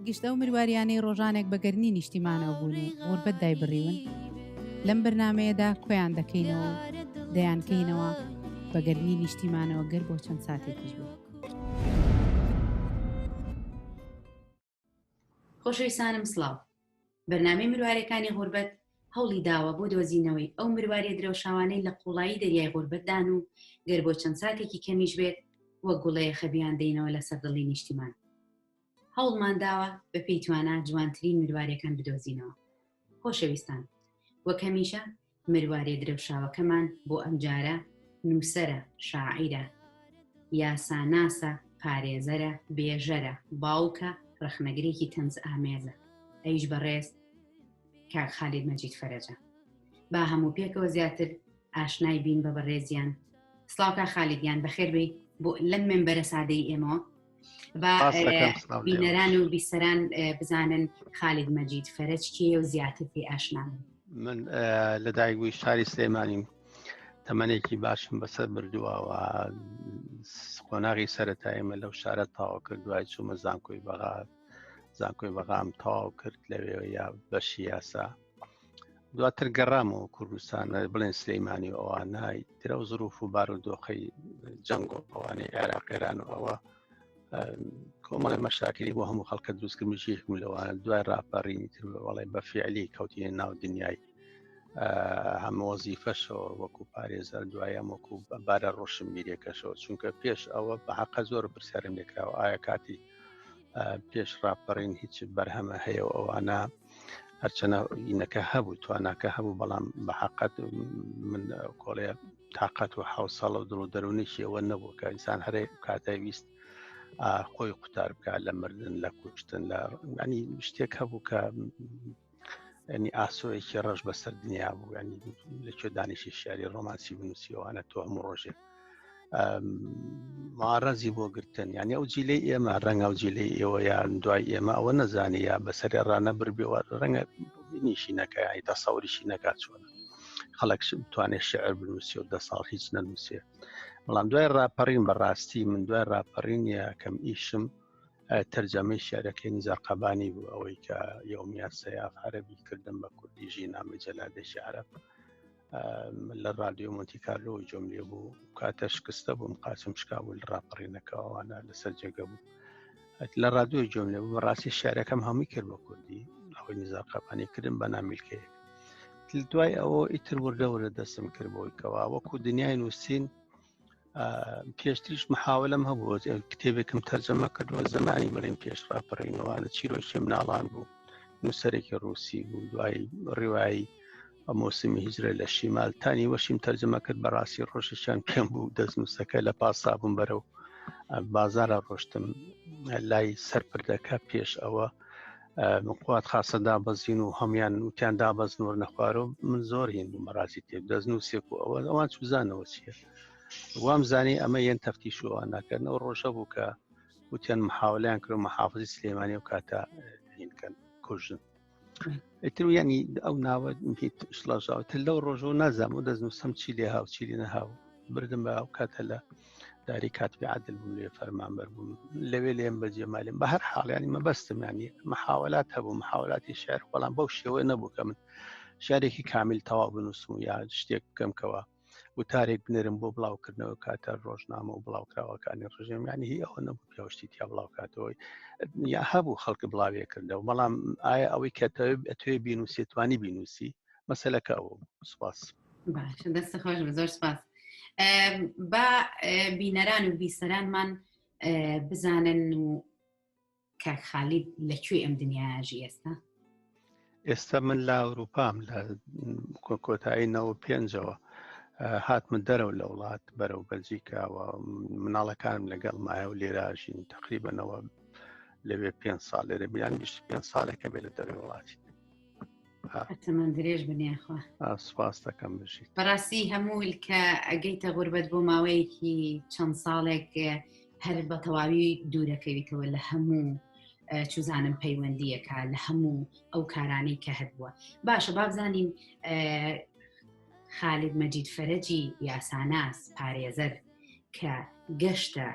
گشت ئەو مرواریانەی ڕۆژانێک بە گەرمی نیشتیمانەوە بوون و غوربەت دایبڕیون لەم بەرنامەیەدا کۆیان دەکەینەوە و دەیانکەینەوە بە گەرمی نیشتیمانەوە گەر بۆ چەند ساتێکیش بێت. خۆشەویستانم سڵاو. بەرنامەی مروارێکانی غوربەت هەوڵی داوە بۆ دۆزینەوەی ئەو مروارێ درەوشاوانەی لە قوڵایی دەریای غوربەتدان و گەر بۆ چەند ساتێکی کەمیش بێت وە گوڵەیە خەبیان دەینەوە لە سەردڵی نیشتیمان هەوڵمان داوە بە پێی توانا جوانترین مروارێکان بدۆزینەوە خۆشەویستان وەک هەمیشە مروارێ درەوشاوەکەمان بۆ ئەمجارە نووسەرە، شاعیرە، یاساناسە، پارێزەرە، بێژەرە، باوکە، ڕەخنەگرێکی تەنزئامێزە، ئەویش بەڕێز کاک خالید مەجید فەرەجە. با هەموو پێکەوە زیاتر ئاشنای بین بە بەڕێزیان. سڵاو کاک خالید گیان، بەخێربێی بۆ لەم مێنبەرە سادەی ئێمەوە، با بینەران و بیسەران بزانن خالید مەجید فەرج کێ و زیاتر پێ ئاشنان من لە دایگوی شاری سلێمانیم تەمەێکی باشم بەسەر بردووەوە قۆناغی سەتای ئمە لەو شارە تاوا کرد دوای چوومە زانکۆی بەغات زانکۆی بەغام تاو کرد لەوێ یا بەشی یاسا دواتر گەڕامەوە کوردستان بڵێن سلەیمانی و ئەوانای ترە و زروف و بار و دۆخی جەنگ و ئەوانەی عێراقێران و ئەوە کۆمەڵی مەشاکری بۆ هەموو خەڵکە دروستکردمیشیک و لەوان دوای راپەڕینی تر بەڵێ بە فعلی کەوتینە ناو دنیای هەمۆزی فەشەوە وەکو پارێزەر دوایەم وەکو بارە ڕۆشن میرێکەشەوە چونکە پێش ئەوە بە حەقە زۆر پرسیارم لێکراوە ئایا کاتی پێش راپەڕین هیچ بەرهەمە هەیە و ئەوانە هەرچەنە ئینەکە هەبوو تواناکە هەبوو بەڵام بە حقت من کۆڵێ تااقەت و حوسەڵ و دڵ و دەرونێکی ئەوە نەبوو کە ئینسان هەرێ کاتای ویست خۆی قوتار بکات لە مردن لە کوشتن لە ینی شتێک هەبوو کە ینی ئاسۆیەکی ڕەش بەسەر دنیا بوو ینی لەکوێ دانیشی شاری ڕۆمانسی بنووسیەوەوانە تۆ هەموو ڕۆژێک مارەزی بۆ گرتن یعنی ئەو جیلەی ئێمە ڕەنگە ئەو جیلەی ئێوە یان دوای ئێمە ئەوە نەزانانی یا بەسەر ڕانە بربێوە ڕەنگە نیشی نەکە ینی تا ساوریشی نەکات چۆن خەڵک بتوانێت شعر بنووسی و دە ساڵ هیچ نەنووسێ بەڵام دوای ڕاپەڕین بەڕاستی من دوای ڕاپەڕین یەکەم ئیشم تەرجەمەی شعرەکەی نزار قەبانی بوو ئەوەی کە یومیات سەیاف عەربی کردم بە کوردی ژی نامی جەلادێکی عرب لە رادیۆ مۆنتیکارلۆ جۆم لێ بوو کاتە شکستە بووم قاچم شکاول ڕاپەڕینەکەوانە لەسەر جێگە بوو لە رادیۆ جۆم لێ بوو ڕاستی شارەکەم هەمووی کرد بە کوردی ئەوەی نزار قەپانی کردن بە نامیلکەیە دوای ئەوە ئیتر وردە وردە دەستم کرد بۆی کەەوە وەکو دنیای نووسین پێشتریش محاولم هەبوو کتێبێکم تەرجەمە کردووە زمانی بڵێن پێش ڕاپەڕینەوەە چیرۆکی مناڵان بوو نووسەرێکی ڕوسی بوو دوای ڕیوایی مۆسمی هیجرە لە شیمال تانی وەشیم تەرجەمە کرد بەڕاستی ڕۆژێکیان پێم بوو دەست نووسەکە لە پاسا بووم بەرە و بازارە ڕۆشتم لای سەرپردەکە پێش ئەوە قوات خاصە دابەزین و هەموان وتیان دابەزن و نەخوارۆ من زۆر هین بوو مەڕاستی تێک دەستن و سێک و ئەوە ئەوان چوزانەوە چیە وام زانی ئەمە یەن تەفتی شووان ناکردنەوە ڕۆژە بوو کە وتیان محاولیان کرد محافزی سلێمانی و کاتە هینکەن کوژن ئیتر ینی ئەو ناوە شڵژاوتر لەو ڕۆژەوە نازام و دەستنووسم چی لێ هاو چی لێ نەهاو بردم بە ئەو کاتە لە داری کاتبی عادل بوو لێ فەرمانبەر بووم لەوێ لێم بەجێ مالێن بە هەر حاڵیانی مەبەستمانی محاولات هەبوو محاولاتی شعر بەڵام بەو شێوە نەبوو کە من شارێکی کامیل تەواو بنووسم و یا شتێک بکەمکەوە وتارێک بنێرم بۆ بڵاوکردنەوە کاتە ڕۆژنامە و بڵاوکراوەکانی ڕژێمیانی هی ئەوە نەبوو پێشتی تیا بڵاوکاتەوەی یا هەبوو خەڵکی بڵاوێ کردەوە بەڵام ئایا ئەوەی کە توێ بینوسێتوانی بینوسی مەسلەکە ئەو سپاس. باشە دەستە خۆش بە زۆر سپاس بە بینەران و بیسەرانمان بزانن و کاک خالید لەکوێ ئەم دنیاژی ئێستا ئێستا من لە ئەوروپام لە کۆتایی نەوە پێنجەوە هاتمە دەرەوە لە وڵات بەرەو بەلجیکاوە مناڵەکانم لەگەڵ مایە و لێراژین تقریبەنەوە لەوێ پێ ساڵ لێرە بیان گشت پێ ساڵێکە بێ لە دەروی وڵاتی تەمەن درێژ بنیاخوا سپاس دەکەم بژیت بەڕاستی هەموو کە ئەگەیتە غوربەت بۆ ماوەیەکی چەند ساڵێک هەر بە تەواوی دوورەکەویتەوە لە هەموو چوزانم پەیوەندیەکە لە هەموو ئەو کارانەی کە هەبووە باشە بابزانین خالید مەجید فەرجی یاساناس پارێزەر کە گەشتە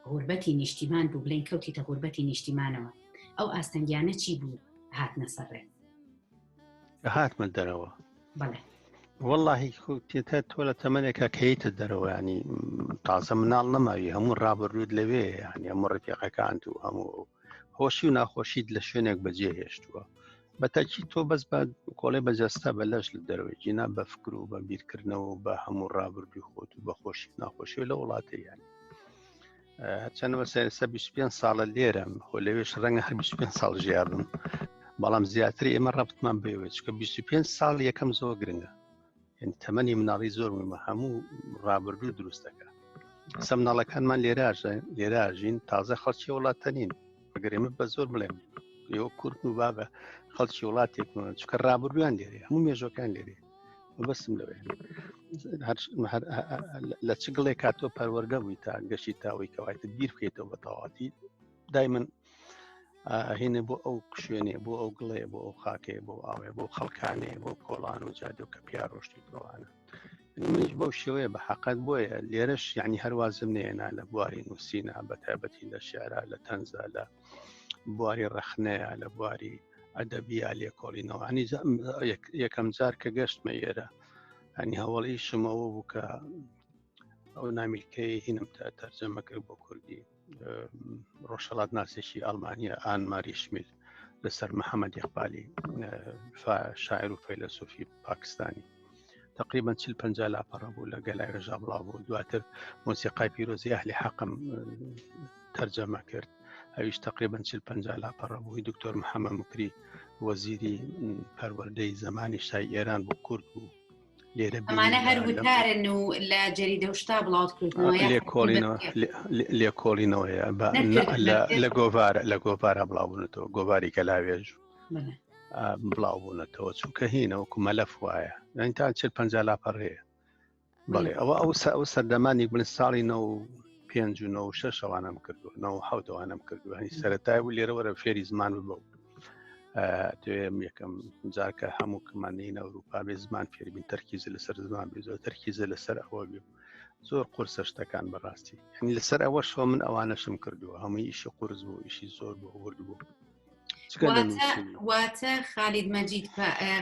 غوربەتی نیشتیمان بوو بلین کەوتیتە غوربەتی نیشتیمانەوە ئەو ئاستەنگیانە چی بوو هاتنە سەڕێ هاتمە دەرەوە واللهی کوتێتە تۆ لە تەمەێکە کەیتە دەرەوەیانی تازە مناڵ نەماوی هەموو ڕابردوود لەوێ ینی هەموو ڕفیقەکان و هەموو هۆشی و ناخۆشیت لە شوێنێک بەجێ هێشتووە بەتەکی تۆ بەس بە کۆڵێ بەجەستە بە لەش لە دەروێت جینا بە فکر و بە بیرکردنەوە بە هەموو ڕابردووی خۆت و بە خۆشی ناخۆشی لە وڵاتە یان هەرچەندەوە سەرسە 25 ساڵە لێرەم خۆ لەوێش ڕەنگە هەر 25 ساڵ ژیابم بەڵام زیاتر ئێمە ڕەبتمان بێوێت چکە 25 ساڵ یەکەم زۆر گرنگە یعنی تەمەنی مناڵی زۆر مهمە هەموو ڕابردوو دروست دەکە سە مناڵەکانمان لێراژە لێراژین تازە خەڵکی وڵاتە نین بەگەر ئێمە بە زۆر بڵێم ئێوە کورد و بابە خەڵکی وڵاتێکمان چکە ڕابردویان لێرێ هەموو مێژەکان لێرێ بەسم لەوێ لە چ گڵێک کاتۆ پەروەەردە بووی تا گەشتی تاوەی کەوایتە بیر بکەیتەوە بە تەواتی دای من هینە بۆ ئەو شوێنێ بۆ ئەو گڵێ بۆ ئەو خاکێ بۆ ئاوێ بۆ خەڵکانێ بۆ کۆڵان و جادو کە پیا ڕۆشتی بڕوانە منش بەو شێوەیە بە حقت بۆیە لێرەش یعنی هەروازم نێنا لە بواری نووسینا بە تایبەتی لە شعرا لە تەنزا لە بواری ڕەخنەیە لە بواری ئەدەبیا لێکۆڵینەوە ئەنی یەکەم جار کە گەشتمە ئێرە ئەنی هەوڵی شمەوە بوو کە ئەو نامیلکەی هینم تا تەرجەمە کرد بۆ کوردی ڕۆژهڵات ناسێکی ئەلمانیا ئان ماریشمیل لەسەر محەممەد یخبالی شاعر و فەیلسوفی پاکستانی تقریبا چل پ لاپەڕە بوو لە گەلای ڕژا بڵاو بوو دواتر مۆسیقای پیرۆزی ئەهلی حەقم تەرجەمە کرد ئەویش تقریبا چل پ لاپەڕە بووی دکتۆر محەممە مکری وەزیری پەروەردەی زمانی شای ئێران بۆ کورد بوو ئەمانە هەر وتارن و لە جەریدە و شتا بڵاوت کردنەوە لێکۆڵینەوەیە لە گۆڤارە لە گۆڤارە بڵاوبوونەوە گۆڤاری کە لاوێژ بڵاوبوونەتەوە چونکە هینەوە کومەلەف وایە یان تا چ پ لاپەڕەیە بەڵێ ئەوە ئەو ئەو سەردەمانی بن ساڵی نە و پێنج و نە شەوانم کردو نە حوتەوانم کردو هەنی سەرەتای و لێرەوەرە فێری زمان ببە دوێم یەکەم جارکە هەموو کەمانین ئەوروپا بێ زمان فێربین تەرکیز لەسەر زمان بێ زۆر تەرکیزە لەسەر ئەوە بێ زۆر قرسە شتەکان بەڕاستی هەنی لەسەر ئەوە شۆ من ئەوانەشم کردووە هەموو ئیشی قرس بوو ئیشی زۆر بۆ ورد بوو واتە خالید مەجید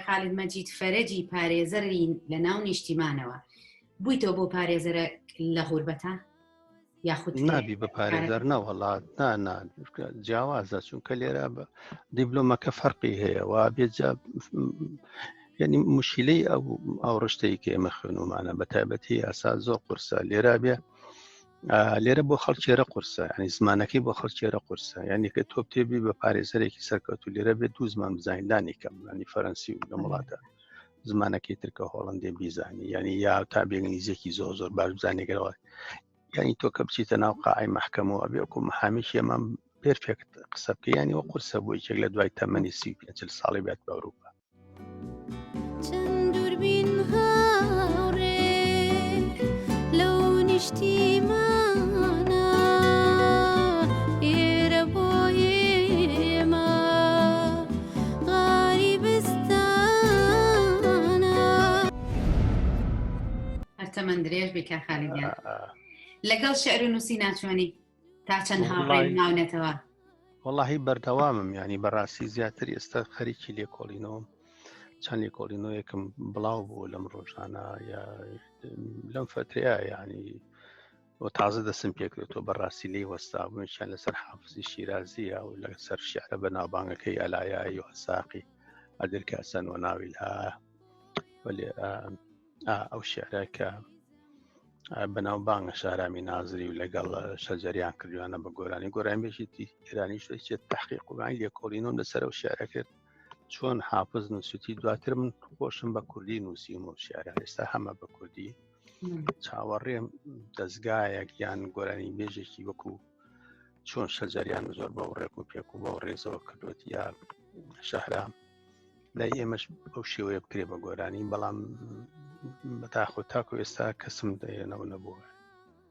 خالید مەجید فەرەجی پارێزەرین لە ناو نیشتیمانەوە بوویتەوە بۆ پارێزەرە لە غوربەتە یاخود نابی بە پارێزەر نەوەڵات نانا جیاوازە چونکە لێرە بە دیبلۆمەکە فەرقی هەیە و بێجا ینی مشیلەی ئەو ئەو ڕشتەی کە ئێمە خوێنمانە بە تایبەتی یاسا زۆر قورسە لێرا بێ لێرە بۆ خەڵکێرە قورسە ینی زمانەکەی بۆ خەڵکێرە قورسە یعنی کە تۆ تێبی بە پارێزەرێکی سەرکەوت و لێرە بێت دوو زمان بزانیندانی کەم ینی فەرەنسی و لە وڵاتە زمانەکەی ترکە هۆڵندێ بیزانی یعنی یا تا بێنگلیزیێکی زۆر زۆر باش بزانێگەرەوە یعنی تۆ کە بچیتە ناو قاعی مححکەمەوە بێکو محامیشی ئەمە پێرفێکت قسە بکە ینی وە قورسە بۆ یەکێک لە دوای تەمەنی سی پێ ساڵی بێت بە ئەوروپا چندوربین هاڕێ لەو نیشتیمان هەر تەمەن درێژ بی کاک خالید گیان لەگەڵ شعر و نووسی ناچۆنی تا چەند هاوڕێ ماونەتەوە وەڵی بەردەوامم ینی بەڕاستی زیاتر ئێستا خەریکی لێکۆڵینەوەم چەند لێکۆڵینەوەیەکم بڵاو بوو لەم ڕۆژانە یا لەم فترەیە ینی و تازە دەسم پێکرێتەوە بەڕاستی لی وەستابوویان لەسەر حافزی شیرازیە و لە سەر شعرە بە ناوبانگەکەی ئەلایایی و هەساقی ئەدرکە سەن و ناوی لە وەێ ئەو شعرە کە بەناو بانگە شارامی نازری و لەگەڵ شەجەریان کردوانە بە گۆرانی گۆران بێژێتی ئێرانی شوێت تحقیق وگانی لێکۆڵینەوە لەسەر و شعرە کرد چۆن حافز نووسیتی دواتر من خۆشم بە کوردی نووسیم و شعرە ئێستا هەمە بە کوردی چاوەڕێم دەستگایەک یان گۆرانی بێژێکی وەکو چۆن شەجاریان زۆر بەو ڕێک و پێک و بەو ڕێزەوە کردوێت یا شەهرام لای ئێمەش ئەو شێوەیە بکرێ بە گۆرانی بەڵام بەتاخۆ تاکو ئێستا کەسم دەێنەوە نەبووە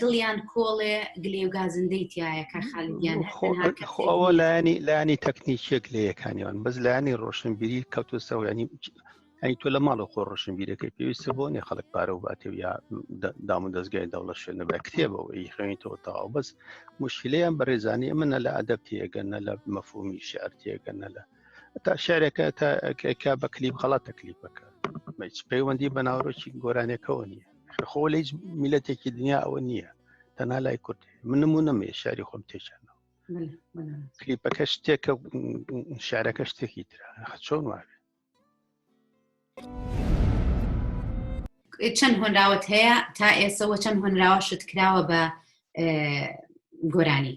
دڵیان کۆڵێ گلێ و گازندەی تایە کە خالیان ئەوە لایانی لایانی تەکنیکیەک لە یەکانیان بەس لایانی ڕۆشنبیری کەوتو سەویانی ئەی تۆ لە ماڵە خۆ ڕۆشنبیرەکەی پێویستە بۆ نیە خەڵک پارە و باتێ یا دام و دەستگای دەوڵە شوێن نەبە کتێبەوە ئی خوێنیتەوە تاوا بەس مشکلیان بە ڕێزانانی ئەمە نە لە ئەدەب تێگە نە لە مەفهومی شعر تێگە نە لە تا شارێکە تاکە بە کلیپ خەڵات تەکلیفەکە پەیوەندی بە ناوڕۆکی گۆرانەکەەوە نییە خۆ لە هیچ میلەتێکی دنیا ئەوە نییە تەنها لای کورد من نمو نەمێ شاری خۆم تێچانەوە کلیپەکە شتێکە شارەکە شتێکی تررا چۆن وابێ چەند هۆنراوت هەیە تا ئێسەوە چەند هۆنراوە شت کراوە بە گۆرانی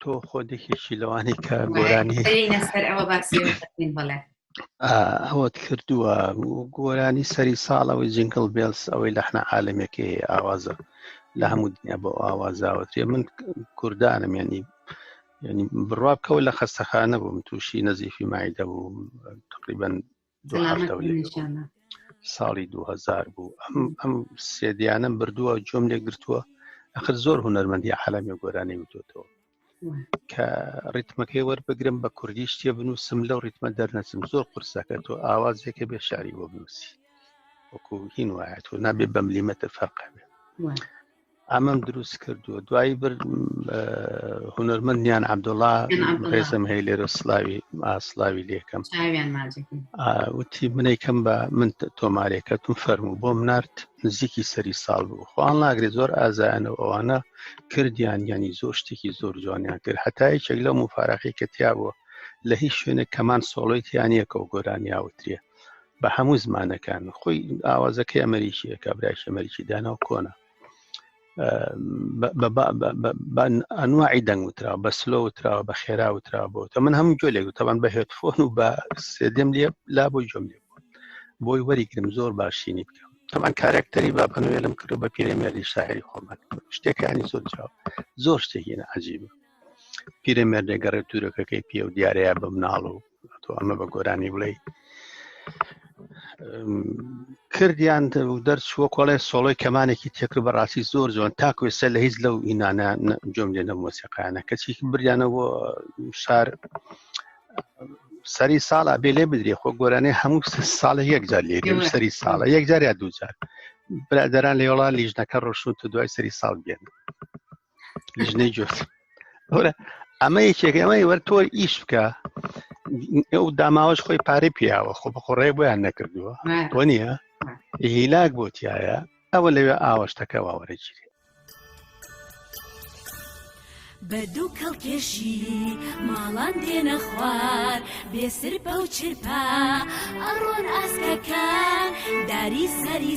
تۆ خۆدێکێکی لەوانی کە گۆرانی سەر ئەوە باسی بڵێ ئەوەت کردووە گۆرانی سەری ساڵەوەی جنگل بێلس ئەوەی لەحنا عاالمێکی ئاوازە لە هەموو دنیا بۆ ئاوازاوەتێ من کوردانم ینی ینی بڕوا بکەوە لە خەستەخانە بووم تووشی نەزیفی مایدە بوو تقریبن ساڵی 2000 بوو ئەم ئەم سێدیانم بردووە جۆم لێ گرتووە ئەخر زۆر هوەرمەندی عالمی گۆرانی وتۆتەوە کە ڕیتمەکەی وەربگرم بە کوردی شتێ بنووسم لەو ڕیتمە دەرنەچم زۆر قرسەکە تۆ ئاوازێکە بێ شاری بۆ بنووسی وەکو هین وایە تۆ نابێ بەملیمەتە فەرقە بێ ئەمەم دروست کردووە دوایی بر هونەرمەندیان عبدوڵا ڕێزم هەیە لێرە سلاوی ئاسلاوی لێکەم وتی منەی کەم بە من تۆمارێکەتم فەرم و بۆم نرد نزیکی سەری ساڵ بوو خوان ناگرێت زۆر ئازایانە و ئەوانە کردیان ینی زۆر شتێکی زۆر جوانیان کرد هەتای چێک لەو مفاراقی کە تیا بووە لە هیچ شوێنێک کەمان سۆڵۆی تیانە کە و گۆرانیاوترێت بە هەموو زمانەکان خۆی ئاوازەکەی ئەمریکیە کابراش ئەمریکی داناو کۆنە ئەنواعی دەنگ وترا بە سلۆ وتراوە بە خێرا وترا بۆ تە من هەموو جۆلێک وتەبان بە هێتفۆن و بە سێدم لێ لا بۆی جۆم لێ بۆی وەریگرم زۆر باشینی بکەم تەمان کارەکتەری با بەنوێلم کرد بە پیرێمێری شاعری خۆمان شتەکانی زۆر جاو زۆر شتێکینە عجیبە پیرێمێر دەگەڕێت تورەکەکەی پێ و دیارەیە بە مناڵ و تۆ ئەمە بە گۆرانی بڵێ کردیان دەرچووە کۆڵێ سۆڵۆی کەمانێکی تێکر بەڕاستی زۆر جوان تاکوێسە لە هیچ لەو ئینانە جۆم لێ نە مۆسیقانە کەچی بریانە بۆ شار سەری ساڵە بێ لێ بدرێ خۆ گۆرانێ هەموو ساڵە یەکجار لێ سەری ساڵە یەکجار یا دووجار برادران لێوڵا لیژنەکە ڕۆشن و دوای سەری ساڵ بێن لیژنەی گوێت وەرە ئەمە یەکێکە ئەمەی وەر تۆ ئیش بکە ئەو داماوەش خۆی پارەی پیاوە خۆ بە خۆڕێ بۆیان نەکردووە بۆ نییە هیلاک بۆ تایە ئەوە لەوێ ئاوەشتەکە واوەرەگیری بە دوو کەڵکێشی ماڵان دێنە خوار بێسر پەوچرپا ئەڕۆن ئاسکەکان داری سەری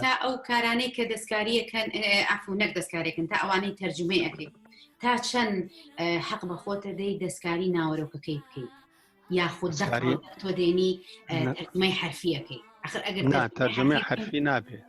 تا ئەو کارانەی کە دەستکاریەکەن ئەفو نەک دەستکارێکن تا ئەوانەی تەرجمەی ئەکەیت تا چەند حەق بە خۆتە دەی دەستکاری ناوەرۆکەکەی بکەیت یاخود تۆ دێنی تەرجمەی حرفیەکەی ئەخر ئەگەر تەرجمەی حرفی نابێت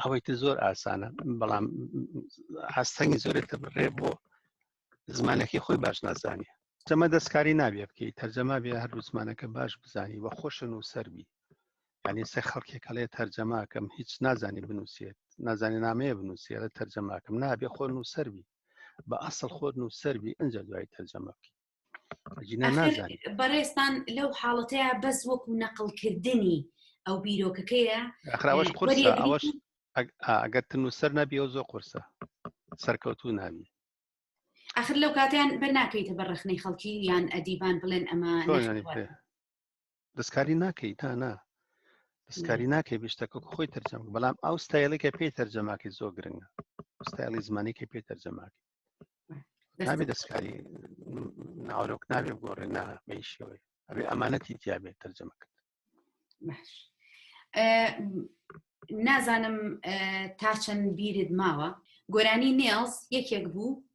ئەوەی تر زۆر ئاسانە بەڵام هەستەنگی زۆرێت کە بڕێ بۆ زمانەکەی خۆی باش نازانێ جەمە دەستکاری نابێ بکەیت تەرجەما بێ هەر زمانەکە باش بزانی وە خۆشن و سەربی یعنی سێ خەڵکێکەڵێ تەرجەماکەم هیچ نازانی بنووسێت نازانێ نامەیە بنووسێرە تەرجەماکەم نابێ خۆن و سەربی بە ئەسڵ خۆت و سەربی ئەجا دوای تەرجەمە بکەیت بەڕێستان لەو حاڵەتەیە بەس وەکو نەقلکردنی ئەو بیرۆکەکەیە ئەخراوەش قورسە ئەوەش ئەگەر تن و سەر نەبی و زۆر قورسە سەرکەوتو ناوی ئەخر لەو کاتیان بە ناکەیتە بە ڕخنەی خەڵکی یان ئەدیبان بڵێن ئەمە دەستکاری ناکەی تا نا دەستکاری ناکەی بشتەکە خۆی تەرجەم بەڵام ئەو ستایلێکە پێی تەرجەماکی زۆ گرنگە ستایلی زمانێکی پێ تەرجەماکی نابێ دەستکاری ناوەرۆک نابێ گۆڕێ نا بەیشەوەی ئەبێ ئەمانەتی تیاابێت تەرجەمە کرد نازانم تا چەند بیرت ماوە گۆرانی نێڵز یەکێک بوو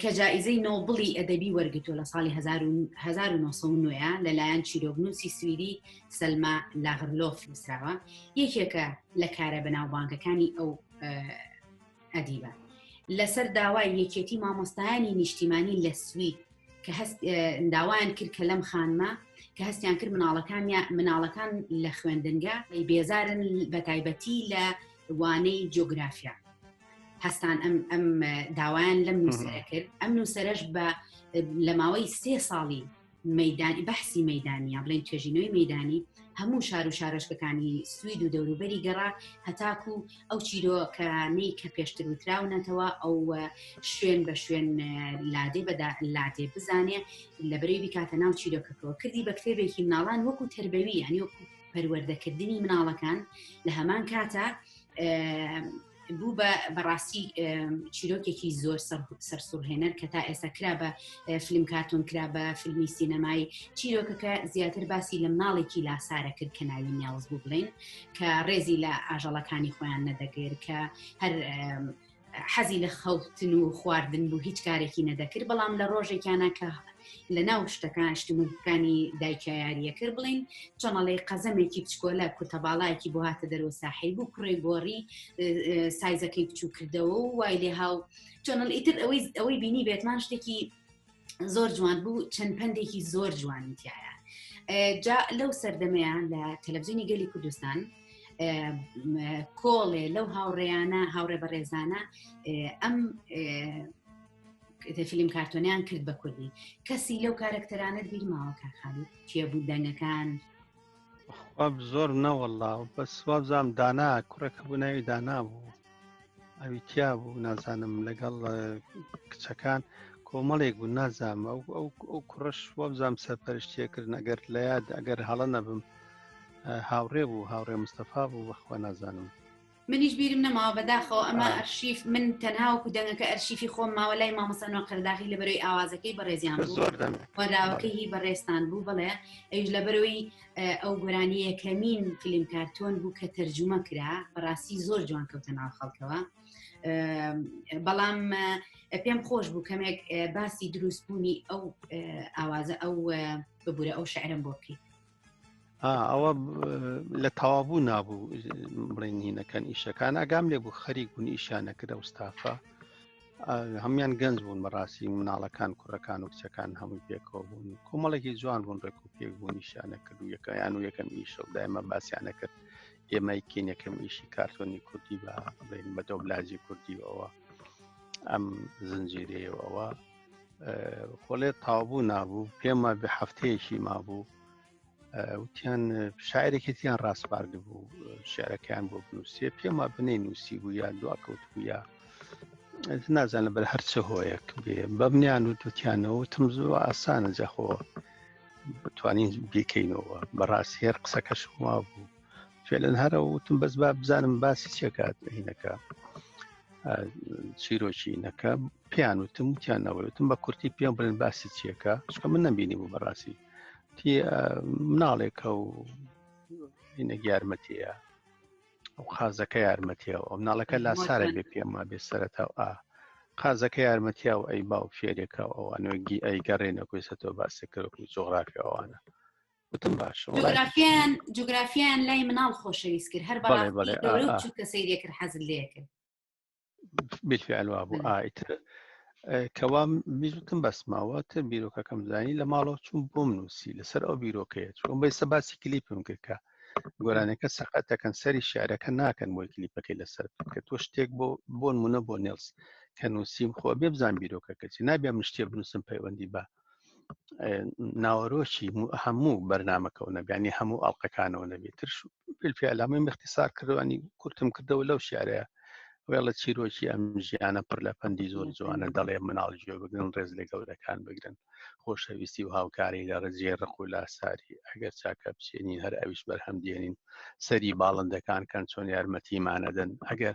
کە جائیزەی نۆبڵی ئەدەبی وەرگتو لە ساڵی 1990 لەلایەن چیرۆگنووسی سویدی سەلما لاغرلۆف نووسراوە یەکێکە لە کارە بەناوبانگەکانی ئەو ئەدیبە لەسەر داوای یەکێتی مامۆستایانی نیشتیمانی لە سوید کە هەست داوایان کرد کە لەم خانمە کە هەستیان کرد مناڵەکان یا مناڵەکان لە خوێندنگە بێزارن بە تایبەتی لە وانەی جۆگرافیا هەستان ئەم ئەم داوایان لەم نووسەرە کرد ئەم نووسەرش بە لە ماوەی سێ ساڵی مەدانی بەحسی مەدانیا بڵین توێژینەوەی مەدانی هەموو شار و شارۆشکەکانی سوید و دەوروبەری گەڕا هەتاکو ئەو چیرۆکانەی کە پێشتر وتراونەتەوە ئەو شوێن بە شوێن لادێ بەدا لادێ بزانێ لە بەری بکاتە ناو چیرۆکەکەەوە کردی بە کتێبێکی مناڵان وەکو تربەوی یانی وەکو پەروەردەکردنی مناڵەکان لە هەمان کاتە بوو بە بەڕاستی چیرۆکێکی زۆر سەرسوڕهێنەر کە تا ئێستا کرا بە فیلم کارتۆن کرا بە فیلمی سینەمایی چیرۆکەکە زیاتر باسی لە ماڵێکی لاسارە کرد کە ناوی نیاز بوو بڵین کە ڕێزی لە ئاژەڵەکانی خۆیان نەدەگر کە هەر حەزی لە خەوتن و خواردن بوو هیچ کارێکی نەدەکرد بەڵام لە ڕۆژێکیانە کە لە ناو شتەکان شتمەکانی دایکە یاریە کرد بڵین چۆنەڵی قەزەمێکی بچکۆلە کورتە باڵایەکی بۆ هاتە دەرەوە ساحی بوو کوڕی گۆڕی سایزەکەی بچوو کردەوە و وای لێ هاو چۆنڵ ئیتر ئەوەی ئەوەی بینی بێتمان شتێکی زۆر جوان بوو چەند پندێکی زۆر جوانی تایە جا لەو سەردەمەیان لە تەلەڤزیۆنی گەلی کوردستان کۆڵێ لەو هاوڕێیانە هاوڕێ بەڕێزانە ئەم فیلم کارتۆنیان کرد بە کوردی کەسی لەو کارەکتەرانە بیرماوە کارخانی کێبوو دەنگەکان واب زۆر نەوەڵا بەس وابزانام دانا کوڕێک بوو ناوی دانا بوو ئەوی تیا بوو نازانم لەگەڵ اه، کچەکان کۆمەڵێک بوو نازام ئەو ئەو ئەو کوڕش وابزانام سەرپەرشتیەکردن ئەگەر لە یاد ئەگەر هەڵە نەبم اه، هاوڕێ بوو هاوڕێ مستەفا بوو بەخوا نازانم منیش بیرم نەماوە بەداخەوە ئەمە ئەرشیف من تەنها وەکو دەنگەکە ئەرشیفی خۆم ماوە لای مامەسانەوە قەرداغی لە بەرەوەی ئاوازەکەی بەڕێزیان وەراوەکەی هی بەڕێستان بوو بڵێ ئەوش لە بەرەوەی ئەو گۆرانی یەکەمین فیلم کارتۆن بوو کە تەرجومە کرا بەڕاستی زۆر جوان کەوتە ناو خەڵکەوە بەڵام پێم خۆش بوو کەمێک باسی دروستبوونی ئەو ئاوازە ئەو ببوورە ئەو شعرم بۆ بکەیت ئەوە لە تەوابوو نابوو بڵێن هینەکان ئیشەکان ئەگام لێ بوو خەریک بوون ئیشانەکرە وستافە هەمان گەنج بوون بەڕاستی مناڵەکان کوڕەکان و کچەکان هەمووی پێکەوە بوون کۆمەڵێکی جوان بوون ڕێک و پێک بوون نیشانە کرد و یەکەیان و یەکەم ئیشە و دایمە باسییانە کرد ئێمەی کین یەکەم ئیشی کارتۆنی کوردی بە بڵێن بە دۆبلاجی کوردیەوە ئەم زنجیرەیەوەەوە خۆڵێ تاوبوو نابوو پێم وابێ هەفتەیەکی مابوو وتیان شاعرێکێتیان ڕاستپارد بوو شعرەکەیان بۆ بنووسێ پێم وا بنەی نووسی بوو یا دواکەوت بوو یا نازانە بەر هەرچە هۆیەک بێ بەمنیان و توتیانەوە تم زۆر ئاسانە جەخۆ بتوانین بیکەینەوە بەڕاست هێر قسەکەش وا بوو فێلەن هەرە وتم بەس با بزانم باسی چێکات هینەکە چیرۆکیینەکە پێیان وتم وتیان نەوەتم بە کورتی پێم بڵێن باسی چیەکە چکە من نەبینی بوو بەڕاستی مناڵێکە و هینە یارمەتیە ئەو قازەکە یارمەتیە ئەو مناڵەکە لا سارە بێ پێما بێ سەرەتا و ئا قازەکە یارمەتیا و ئەی باو فێرێکە ئەوانۆگی ئەی گەڕێنە کوێسەتەوە باسەکەرەوەی جۆغرافی ئەوانە وتم باشە وڵای جوگرافیان جوگرافیان لای مناڵ خۆشەویست کرد هەر بەڵێ، بەڵێ، بەڕاستی گەورە ئا، ئا. بچووکە سەیرێ کرد حەزت لێ کرد بالفعل وا بوو بله. ئایتر کەوا میزوتم بەس ماوە تر بیرۆکەکەم زانی لە ماڵەوە چوم بۆم نووسی لەسەر ئەو بیرۆکەیە چوم بە ئێستا باسی کلیپم کرد کە گۆرانەکە سەقەت دەکەن سەری شعرەکە ناکەن بۆی کلیپەکەی لەسەر بکەن. کە تۆ شتێک بۆ بۆ نمونە بۆ نێڵس کە نووسیم خۆ بێ بزان بیرۆکەکە چی نابێ من شتێ بنووسم پەیوەندی بە ناوەرۆکی هەموو بەرنمەکە و نەبیانی هەموو ئەڵلقەکانەوە نەبێت ترش پێلامی مختصار کردوانی کورتم کردەوە لەو شارەیە وێڵە چیرۆکی ئەم ژیانە پڕ لە پەندی زۆر جوانە دەڵێ مناڵ گوێ بگرن ڕێز لە گەورەکان بگرن خۆشەویستی و هاوکاری لە ڕێزیێ ڕق و لاساری ئەگەر چاکە بچێنین هەر ئەویش بەرهەم دێنین سەری باڵندەکان کەن چۆن یارمەتیمانەدەن ئەگەر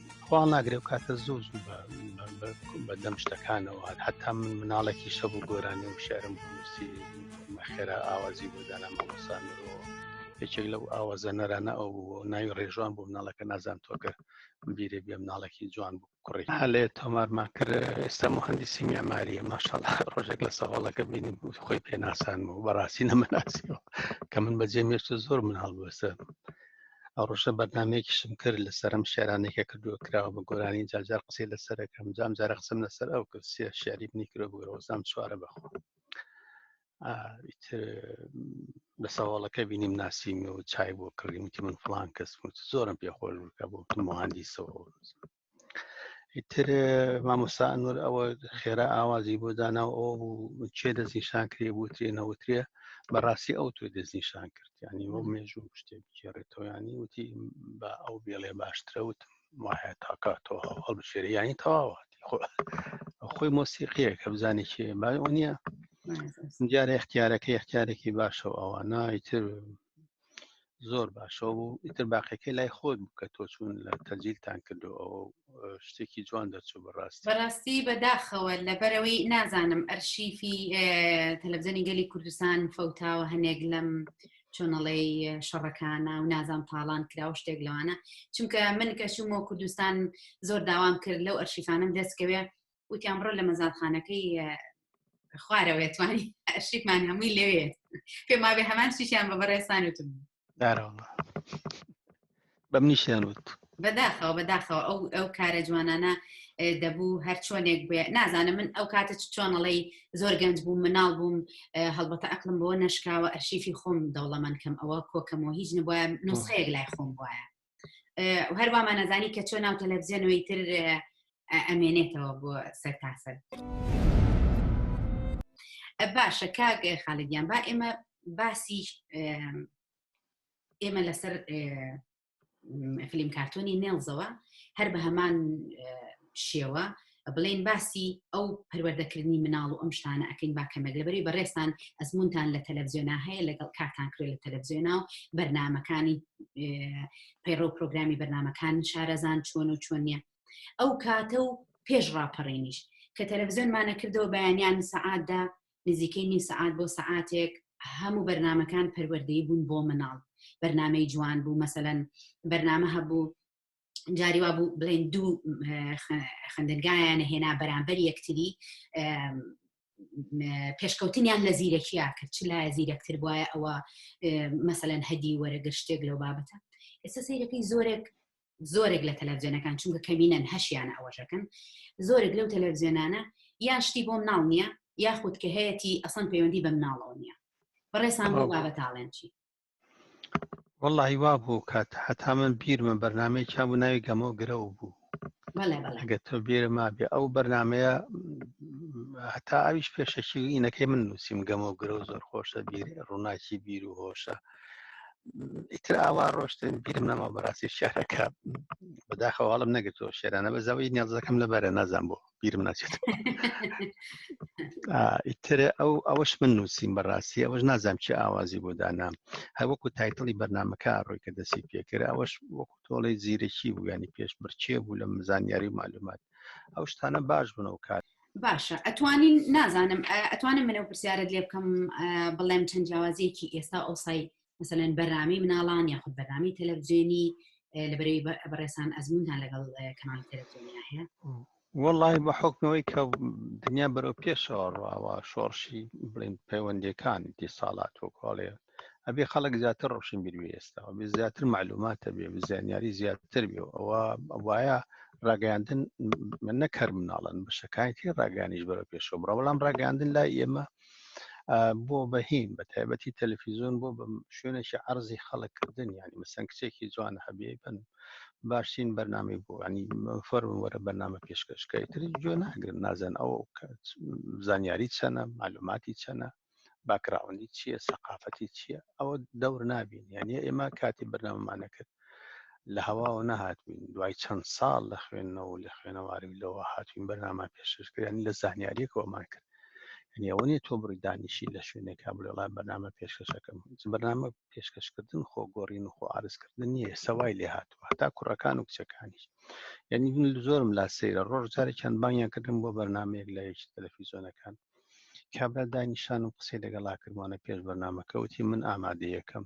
خوا ناگرێ و کاتە زوو زوو بە دەم شتەکانەوە حتا من مناڵێکی شەبوو گۆرانی و شعرم بنووسی خێرا ئاوازی بۆ دانا مامۆسانەوە یەکێک لەو ئاوازەنەرانە ئەو بوو ناوی ڕێژوان بۆ مناڵەکە نازان تۆکە بیرێ بێ مناڵێکی جوان بوو کوڕی هەلێ تۆمارمان کرد ئێستا مهندسی میماریە ماشاڵ ڕۆژێک لە سەواڵەکە بینیم خۆی پێناسان و بەڕاستی نەمەناسیەوە کە من بەجێ مێشتە زۆر مناڵ بەسەر ئەوڕۆژە بەرنمەیەکیشم کرد لە سەرم شعرانێکە کردووە کراوە بە گۆرانی جاجار قسەی لەسەرەکەم جام جارە قسم لەسەر ئەو کرد سێ شعری بنی کرۆ بگرەوەزام چوارە بەخۆ لە ساواڵەکە بینیم ناسیمی و چای بۆ کڕیم وتی من فلان کەس زۆرم پێ خۆش بکە بۆ مهندیسەوە ئیتر مامۆستا ئەنوەر ئەوە خێرا ئاوازی بۆ دانا و ئەو چێ دەستنیشان کرێ بوترێ نەوترێ بەڕاستی ئەو تۆی دەستنیشان کرد ینی وە مێژوو شتێ بگێڕێتەوە ینی وتی بە ئەو بێڵێ باشترە وتم وایە تاکاتەوە هەڵبژێری ینی تەواوەتی خۆ خۆی مۆسیقیە کە بزانانی کێ باۆ نییە دیارە اختیارەکە اختیارێکی باشە ئەوە نایتر زۆر باشەوە بوو ئیتر باقیەکەی لای خۆت بوو کە تۆ چوون لە تەجیلتان کردو ئەوە شتێکی جوان دەرچوو بەڕاست بەڕاستی بەداخەوە لەبەرەوەی نازانم ئەرشیفی تەلەبزەنی گەلی کوردستان فەوتاوە هەنێک لەم چۆنەڵی شەڕەکانە و نازان تاڵان کرا و شتێک لەوانە چونکە من کە چوومەوە کوردستان زۆر داوام کرد لەو ئەرشیفانم دەستکەوێ وتیان بڕۆ لە مەزادخانەکەی خوارەوە توانی شیکمان هەمووی لەوێ پێما بێ هەمان شیشیان بە بەڕێسان وتم بە منیشیان وت بەداخەوە بەداخەوە ئەو ئەو کارە جوانانە دەبوو هەر چۆنێک بێ نازانم من ئەو کاتە چۆنەڵی زۆر گەنج بووم مناڵ بووم هەڵبەتە ئەقلم بۆ نشکاوە ئەرشیفی خۆم دەوڵەمەند کەم ئەوە کۆکەمەوە هیچ نبووە نووسەیەک لای خۆم وایە هەر وامانەزانی کە چۆ ناو تەلەڤزیۆنەوەی تر ئەمێنێتەوە بۆ سەر تاسەر باشە کاک خاڵگیان با ئێمە باسی ئێمە لەسەر فلیم کارتۆنی نێڵزەوە هەر بە هەمان شێوە بڵێن باسی ئەو پەروەردەکردنی مناڵ و ئەم شتانە ئەکەین با کەمێک لەبەری بەڕێستان ئەزمونتان لە تەلەڤزیۆنا هەیە لەگەڵ کارتان کرێ لە تەلەڤزیۆنا و بەرنمەکانی پەیڕە و پرۆگرامی بەرنمەکان شارەزان چۆن و چۆن نیە ئەو کاتە و پێش ڕاپەڕێنیش کە تەلەڤزیۆنمانە کردەوە بەیانیان سەعاتدا نزیکەی نی سەعات بۆ سەعاتێک هەموو بەرنمەکان پەروەردەی بوون بۆ مناڵ بەرنمەی جوان بوو مەسەەن بەرنامە هەبوو جاری وا بوو بڵێن دوو خندنگایانە هێنا بەرامبەر یەکتری پێشکەوتنیان لە زیرەکییا کرد چ لایە زیرەکتر وایە ئەوە مەسەەن هەدی وەرەگەر شتێک لەو بابەتە ئێستا سیرەکەی زۆرێک زۆرێک لە تەلەڤزیۆنەکان چونکە کەمینەن هەشیانە ئەوەشەکەن زۆرێک لەو تەلەڤزیۆنانە یان شتی بۆم ناڵ نییە یاخود کە هەیەی ئەسان پەیوەندی بەم ناڵەوە نییە بەڕێسان بۆ بابەتاڵێن چی وەڵی وا بوو کات هەتا من بیرمە بەرنمەی چا بوو ناوی گەمە و گرە و بوو ئەگە تۆ بێرە مابێ ئەو بەرنمەیە هەتا ئەویش پێشەکی و ئینەکەی من نووسیم گەمە و گرە و زۆر خۆشە بیر ڕووناکی بیر و هۆشە ئیتر ئاوا ڕۆشتن بیرم نەما بەڕاستی شارەکە بەداخەواڵم نەگرتەوە شێرانە بە زەوی نیازەکەم لەبەرە نازان بوو بیرم ناچێت ئیتر ئەو ئەوەش من نووسیم بەڕاستی ئەوەش نازانام چی ئاوازی بۆ دانام هەوەکو تایتڵی بەرنمەکە ڕۆی کە دەسی پێکرد ئەوەش وەکو تۆڵی زیرەکی بوو ینی پێش بچێ بوو لە زانیاری و معلومات ئەو شتانە باش بن و کات باشە ئەتوانین نازانم ئەتوانم منە پرسیارت لێ بکەم بڵێم چەند جیاوازیەکی ئێستا ئەوسای مثلەن بەرنامی مناڵان یاخود بەرنامی تەلەڤزیێنی لەبەرەوەی بەڕێسان ئەزمونتان لەگەڵ کەمان تەلەڤزیۆنی هەیە وڵی بە حکمەوەی کە دنیا بەرەو پێشەوە ڕواوە شۆڕشی بڵین پەیوەندەکان دی ساڵات وکۆڵێ ئەبێ خەڵک زیاتر ڕۆشن بیر ئێستاەوە بێ زیاتر معلوماتە بێ زانیاری زیاتر بێ ئەوە وایە ڕاگەاندن من نەکەر مناڵن بەشەکانی تێ ڕاگەانیش بەرە پێشەوە بڕە بەڵام ڕاگەاندن لای ئێمە بۆ بەهیم بە تایبەتی تەلەفیزۆن بۆ بە شوێنێکی عرضی خەڵککردن ینی مەسەن کچێکی جوان هەبێ بن باشترین بەرنامی بۆ ینی فەرون وەرە بەرنامە پێشکەشکەی تری گوێ ناگرن نازن ئەو زانیاری چەنە معلوماتی چەنە باکراوەندی چییە سەقافەتی چییە ئەوە دەور نابین یعنی ئێمە کاتی بەرنامەمانەکرد لە هەواوە نەهاتوین دوای چەند ساڵ لە خوێندنەوە و لە خوێنەواری و لەوە هاتوین بەرنامان پێشکردنی لە زانیاریەکەوەمان کرد ئەوە نیە تۆ بڕی دانیشی لە شوێنێکا بڵێڵا بەنامە پێشکەشەکەم بەنامە پێشکەشکردن خۆ گۆڕین و خۆ ئارزکردن نیە سەوای لێ هاتووە تا کوڕەکان و کچەکانیش یعنی من زۆرم لا سەیرە ڕۆژ جارێکیان بانیان کردم بۆ بەرنمەیەک لە یەکی تەلەفیزۆنەکان کابرا دانیشان و قسەی لەگەڵا کردوانە پێش بەرنمەکەوتی من ئامادەیەکەم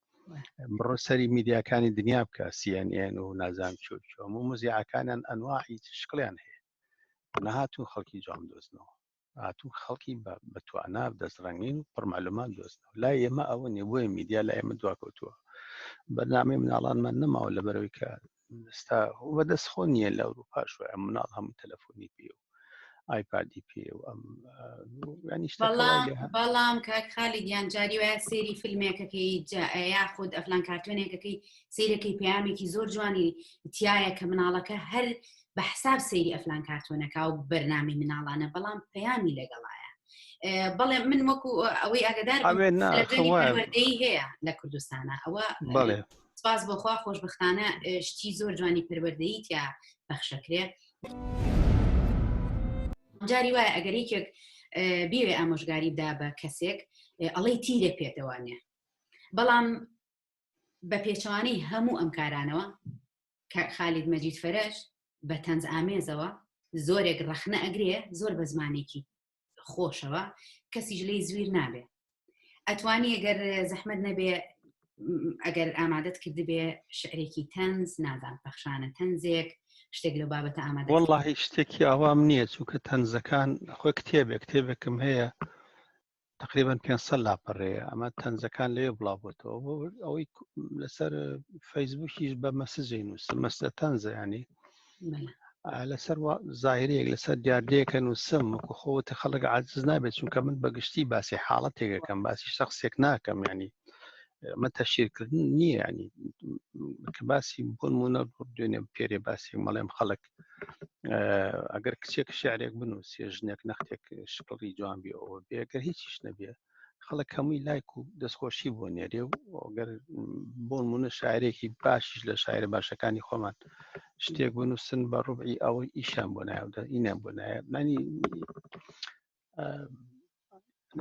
بڕۆ سەری میدیاکانی دنیا بکە سیێن و نازان چۆ چۆم و مزیعەکانیان ئەنواعی شکڵیان هەیە نەهاتون خەڵکی جام دۆزنەوە هاتوو خەڵکی بە توانا دەستڕەنگین و پڕمەلومان دۆستنەوە لا ئێمە ئەوە نیە بۆیە میدیا لە ئێمە دواکەوتووە بەرنامەی مناڵانمان نەماوە لە بەرەوەی کە ستا بەدەست خۆ نییە لە ئەوروپاش وایە مناڵ هەموو تەلەفۆنی پێ و ئایپادی پێ و ئەم بەڵام کاک خالی گیان جاری وایە سێری فیلمێکەکەی یاخود ئەفلان کارتۆنێکەکەی سیرەکەی پامێکی زۆر جوانی تایە کە مناڵەکە هەر بە حساب سەیری ئەفلان کارتۆنەکە و بەرنامی مناڵانە بەڵام پەیامی لەگەڵایە بەڵێ من وەکو ئەوەی ئەگەدار هەیە لە کوردستانە ئەوە سپاس بۆخوا خۆشببختانە شتی زۆر جوانی پەروەردەیتیا بەخشەکرێ جاری وایە ئەگەر یەکێک بێوێ ئامۆژگاری دا بە کەسێک ئەڵەی تیرە پێتەوانێ بەڵام بە پێچوانەی هەموو ئەم کارانەوە کە خالید مەجید فەرش بە تەنز ئامێزەوە زۆرێک ڕەخنە ئەگرێ زۆر بە زمانێکی خۆشەوە کەسیش لی زویر نابێ ئەتوانی ئەگەر زەحمت نەبێ ئەگەر ئامادەت کردبێ شعرێکی تەنز نازان پەخشانە تەنزێک شتێک لە بابەتە ئامادە وڵی شتێکی ئاوام نییە چووکە تەنزەکان خۆی کتێبێک کتێبێکم هەیە تقریبا 500 لاپەڕەیە ئەمە تەنزەکان لەوێ بڵاوبتەوە ئەوەی لەسەر فەیسبوکیش بە مەسجی نووسم مەسە تەنزە ینی لەسەر زاهرەیەک لەسەر دیاردەیەکە نووسم وەکو خۆوەتە خەڵک عزز نابێت چونکە من بەگشتی باسی حاڵەتێکەکەم باسی شخصێک ناکەم ینی مە تەشیرکردن نییە ینی کە باسی بۆن منە دوێنێ پێرێ باسی مەڵێم خەڵک ئەگەر کچێک شعرێک بنووسێ ژنێک نەختێک شکڵی جوان بێەوە بێگە هیچیش نەبێت خەڵک هەمووی لایک و دەستخۆشی بۆ نێرێ و ئەگەر بۆ نمونە شاعرێکی باشیش لە شاعرە باشەکانی خۆمان شتێک بنووسن بە ڕوبعی ئەوەی ئیشان بۆ ناودا ئینیان بۆ نایە مانی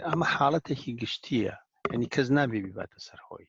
ئەمە حاڵەتێکی گشتیە ینی کەس نابێ بیباتە سەرخۆی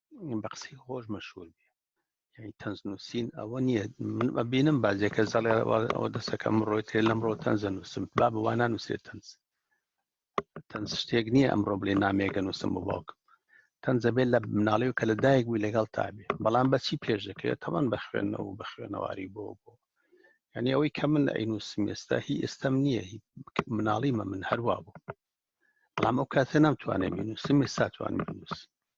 بە قسەی خۆش مەشهور بێ یعنی تەنز نووسین ئەوە نییە من ببینم بازێکە زەڵێ ئەوە دەسەکەم ڕۆی تێ لەم ڕۆ تەنزە نووسم با بوانە نووسێت تەنز تەنز شتێک نییە ئەمڕۆ بلێ نامێکە نووسم بۆ باوکم تەنزە بێت لە مناڵی و کە لە دایک بووی لەگەڵ تابێ بەڵام بەچی پێش دەکرێت تەوان بە خوێندنەوە و بە خوێنەواری بۆ بۆ ینی ئەوەی کە من ئەی نووسم ئێستا هی ئێستم نییە هی مناڵیمە من هەروا بوو بەڵام ئەو کاتە نامتوانێت بینوسم ئێستا توانم بنووسم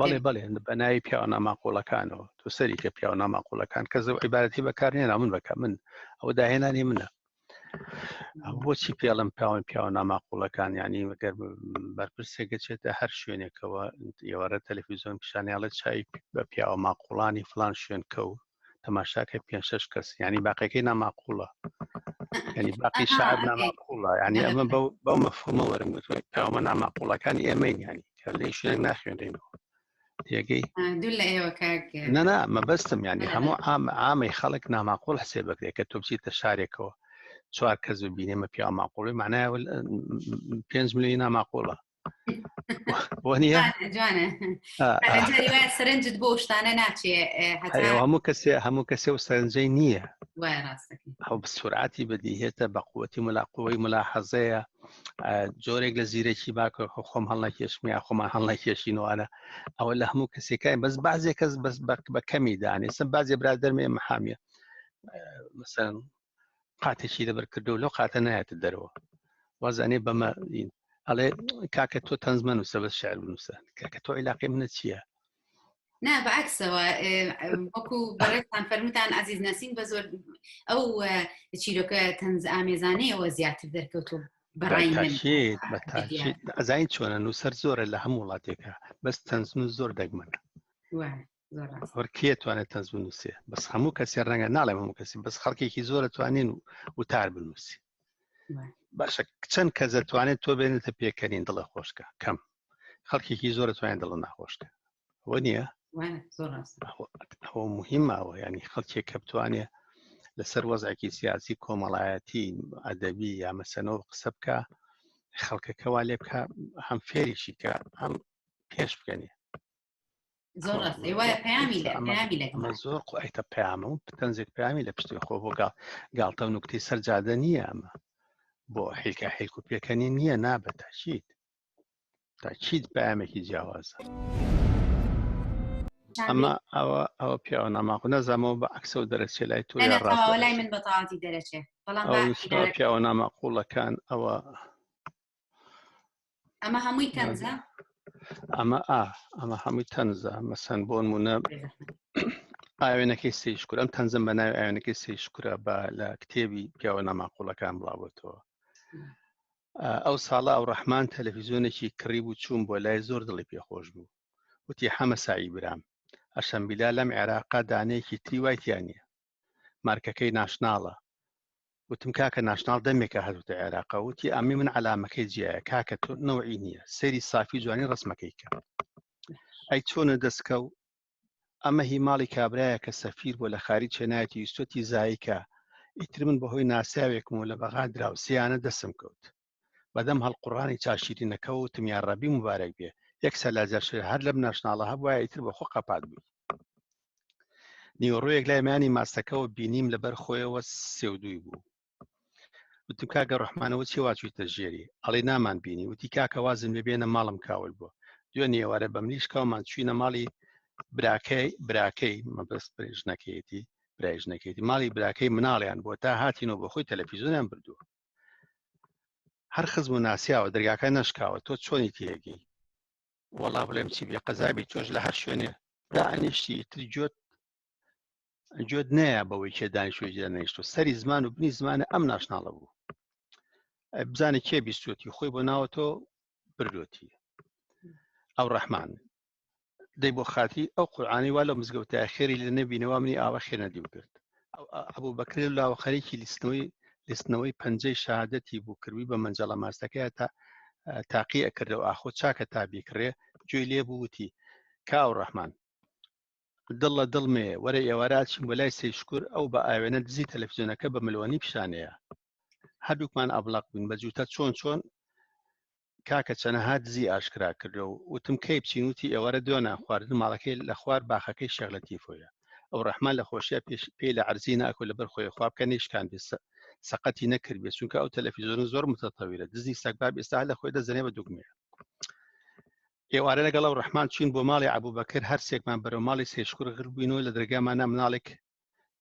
بەڵێ بەڵێ بە ناوی پیاوە ناماقۆڵەکانەوە تۆ سەری کە پیاوە ناماقۆڵەکان کە زە عیبارەتی بەکار نێنا من بەکە من ئەوە داهێنانی منە بۆچی پێڵم پیاوان پیاوە ناماقۆڵەکان ینی وەگەر بەرپرسێک گەچێتە هەر شوێنێکەوە ئێوارە تەلەفیزیۆن پیشانیاڵە چای بە پیاوە ماقۆڵانی فلان شوێن کەوت تەماشاکە پێ شش کەس ینی باقیەکەی ناماقولە ینی باقی شار ناماقولە ینی ئەمە بەو مەفهمە وەرم گوتوەمە ناماقولەکان ئێمەین ینی کە لە شوێن ناخوێنینەوە تێگەی نەنا مەبەستم ینی هەموو ئام ئامی خەڵک ناماقول حسێ بکرێت کە تۆ بچیتە شارێکەوە چوار کەس ببینێمە پیا ماقوڵی معنای پێنج ملی ناماقولە سەرنجت بۆ شتانە ناچێ هەموو کەسێ هەموو کەسێ و سەرنجەی نییە ئەو سوراتی بەدیهێتە بە قوتی ملاقوەی ملا حەزەیە جۆرێک لە زیرەکی باکە خۆم هەڵنەکێشمی یا خۆمان هەڵنەکێشینوانە ئەوە لە هەموو کەسەکانی بەس بازێک کەس بەس بە کەمی دانێسم بازێ برا دەرمێ محامیە مەسەن قاتێکی لەبەر کردو لەو قاتە نایەتە دەرەوە وازانێ بەمە ئەڵێ کاکە تۆ تەنزمە نووسە بە شعر بنووسە کاکە تۆ عیلاقی منە چییە نا بەعکسەوە وەکو بەڕێتان فەرموتان عزیز نەسین بە زۆر ئەو چیرۆکە تەنز ئامێزانەیەوە زیاتر دەرکەوتو ئەزین چۆنە نووسەر زۆرە لە هەموو وڵاتێکە بەس تەنزن و زۆر دەگمەنە زۆر کێ توانێت تەنز بنووسێ بەس هەموو کەسی ڕەنگە ناڵێم هەموو کەسی بەس خەڵکێکی زۆرە توانین و وتار بنووسی باشە چەند کە دەتوانێت تۆ بێنێتە پێکەنین دڵە خۆشکە کەم خەڵکێکی زۆرە توانێت دڵە ناخۆشکە وە نییە مهمەوە ینی خەڵکێک کە بتوانێ لەسەر وەزعێکی سیاسی کۆمەڵایەتی ئەدەبی یا مەسەنەوە قسە بکە خەڵکەکەوا لێ بکە هەم فێریشی کە هەم پێش بکەنی زۆر ڕاستی وایە پەیامی لە پەیامی لە ئەمە زۆر قوایتە پەیامە و تەنزێک پەیامی لە پشتی خۆ بۆ گاڵ گاڵتە و نوکتی سەر جادە نییە ئەمە بۆ حیلکە حیلک و پێکەنی نییە نابێت تاچیت تاچیت پامێکی جیاوازە ئەمە ئەوە ئەوە پیاوە ناماق نەزانەوە بە عکسە و دەرەچێ لای تۆ لای من بەتاتی دەرەچێ بەڵام پیاوە ناماقولەکان ئەوە ئەمە هەمووی تەنزە ئەمە ئا ئەمە هەمووی تەنزە مەسەن بۆن مونە ئاوێنەکەی سی شکر ئەم تەنزم بە ناوی ئاوێنەکەی سی شکرە بە لە کتێبی پیاوە ناماقولەکان بڵاوەتەوە ئەو ساڵە ئەو ڕەحمان تەلەڤیزیۆنێکی کڕی بوو چوون بۆ لای زۆر دڵی پێخۆش بوو وتی حەمە سایی برام ئەشەمبیلا لەم عێراقا دانەیەکی تری وایتیان نیە مارکەکەی ناشناڵە وتم کاکە ناشناڵ دەمێکە هەردوتە عێراقە وتی ئەمی من عەلامەکەی جیایە کاکە تۆ نەوەی نییە سەیری سافی جوانی ڕسمەکەی کە ئەی چۆنە دەستکە و ئەمە هی ماڵی کابراایە کە سەفیر بۆ لە خاری چێنایەتی ویستۆتی زایکە ئیتر من بەهۆی ناسیاوێکم و لە بەغا دراوسیانە دەسم کەوت بەدەم هەڵقوڕانی چا شیرینەکە و تم یا ڕەبی مبارەک بێ یەک سەلاجە شێر هەر لەم ناشناڵە هەبوایە ئیتر بە خۆ قەپات بووی نیوەڕۆیەک لای مەیانی ماستەکەەوە بینیم لەبەر خۆیەوە سێودووی بوو وتم کاکە ڕحمانەوە چی واچوویتە ژێری ئەڵی نامان بینی وتی کاکە وازم لێ بێنە ماڵم کاول بووە دوێ نێوارە بە ملیشکاومان چوینە ماڵی براکەی براکەی مەبست ژنەکەیەتی برای ژنەکەیتی ماڵی براکەی مناڵیان بۆ تا هاتینەوە بە خۆی تەلەفیزۆنیان بردووە هەر خزم و ناسیاوە دەرگاکە نەشکاوە تۆ چۆنی تێگەی وەڵا بڵێم چی بێ قەزابی تۆش لە هەر شوێنێ دانیشتی تر جۆت جۆت نەیە بەوەی کێ دانیشتوی جێ نەیشتۆ سەری زمان و بنی زمانە ئەم ناشناڵە بوو بزانە کێ بیستوەتی خۆی بۆ ناوە تۆ بردوەتی ئەو ڕەحمان دەی بۆ خاتی ئەو قورآانی وا لە مزگەوتە خێری لە نەبینەوە منی ئاوە خێ نەدی و کرد ئەبوو بەکرێ و لاوە خەریکی لیستنەوەی لیستنەوەی پەنجەی شادەتی بوو کردوی بە مەنجەڵە ماستەکەی تا تاقی ئەکردەوە ئاخۆ چاکە تا بیکڕێ گوێی لێ بووتی کاو ڕەحمان دڵ لە دڵ مێ وەرە ئێوارەچین بە لای سەی شکر ئەو بە ئاوێنە دزی تەلەفزیۆنەکە بە ملوانی پیشانەیە هەردووکمان ئەبلق بووین بە جووتە چۆن چۆن کاکە چەنەها دزی ئاشکرا کردو وتم کەی بچین وتی ئێوارە دوێنە خواردن ماڵەکەی لە خوار باخەکەی شێخ لەتیفۆیە ئەو ڕەحمان لە خۆشیە پێش پێی لە عەرزی ناکو لەبەر خۆی خواب کە نەیشکان بێ سەقەتی نەکرد بێ چونکە ئەو تەلەفیزۆنە زۆر متەتەویرە دزی سەگباب ئێستا لە خۆی دەزەنێ بە دوگمێ ئێوارە لەگەڵ ئەو ڕەحمان چوین بۆ ماڵی عەبوبەکر هەرسێکمان بەرەو ماڵی سێشکور غربوینەوە لە دەرگامانە مناڵێک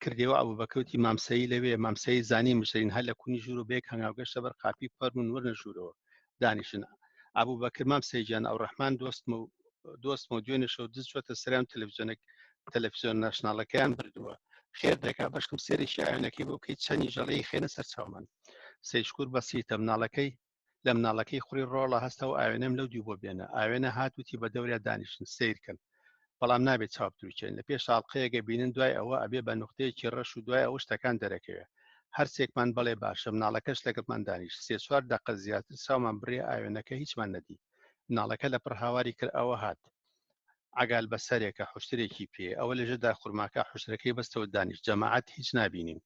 کردەوە ئەبوو بە کەوتی مامسایی لەوێ مامسایی زانی مشترین هەر لە کونی ژوور و بێک هەنگاو گەشتە بەر قاپی پەرمون ورنە ژوورەوە دانیشن ئەبوو بەکر مام سەیجان ئەو ڕەحمان دۆستم و دۆستم و دوێنێ شەو دز چۆتە سەریان تەلەڤزیۆنێک تەلەفزیۆن ناشناڵەکەیان بردووە خێر دەکا بەشکم سێری شایەنەکەی بۆ بکەیت چەنی ژەڵەی خێنە سەر چاومان سەیشکور بەسیتە مناڵەکەی لە مناڵەکەی خوڕی ڕۆڵە هەستە و ئاوێنەم لەو دیو بۆ بێنە ئاوێنە هات وتی بە دەوریا دانیشن سیرکن بەڵام نابێت چاو بتروچێن لە پێش ساڵقەیەگە بینن دوای ئەوە ئەبێ بە نقطەیەکی ڕەش و دوای ئەوە شتەکان دەرەکەوێ هەرسێکمان بەڵێ باشە مناڵەکەش لەگەڵمان دانیش سێ چوار دەقە زیاتر چاومان بڕێ ئاوێنەکە هیچمان نەدی مناڵەکە لە پڕ هاواری کرد ئەوە هات عگال بە سەرێکە حشترێکی پێ ئەوە لەژێدا خورماکە حشتەکەی بەستەوە دانیش جەماعات هیچ نبینین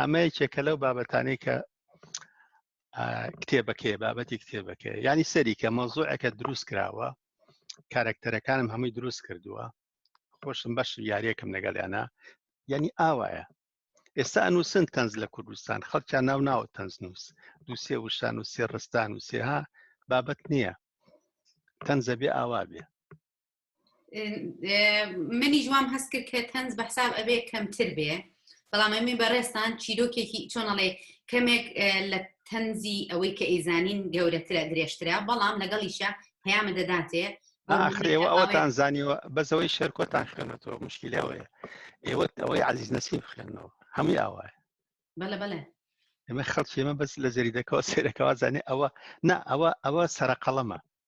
ئەمە یەکێکە لەو بابەتانی کە کتێبەکەی بابەتی کتێبەکە ینی سەریکە مەزۆعەکە دروست کراوە کارکتەرەکانم هەمووی دروست کردووە خۆشم بەش یاریەکەم لەگەڵیانە ینی ئاوایە ئێستا ئەنووسن تەنز لە کوردستان خەڵکیان ناو ناوە تەنز نووس دووسێ وشان و سێ ڕستان و سێها بابەت نییە تەنزە بێ ئاوا بێ منی جوام هەست کرد کە تەنز بە حساب ئەبێ کەمتر بێ بەڵام ئەمی بەڕێستان چیرۆکێکی چۆنەڵێ کەمێک لە تەنزی ئەوەی کە ئیزانین گەورەترە درێژترە بەڵام لەگەڵیشە پەیامە دەداتێ ئاخرەوە ئەوەتان زانیوە بەزەوەی شێرکۆتان خوێنەوە مشکیلەوەیە ئێوە ئەوەی عزیز نەسیب خوێنەوە هەمووی ئاوایە بەڵە بەڵێ ئێمە خەڵکی ئمە بەس لە زەریدەکەەوە سێرەکەەوە زانێ ئەوە نا ئەوە ئەوە سەرقەڵەمە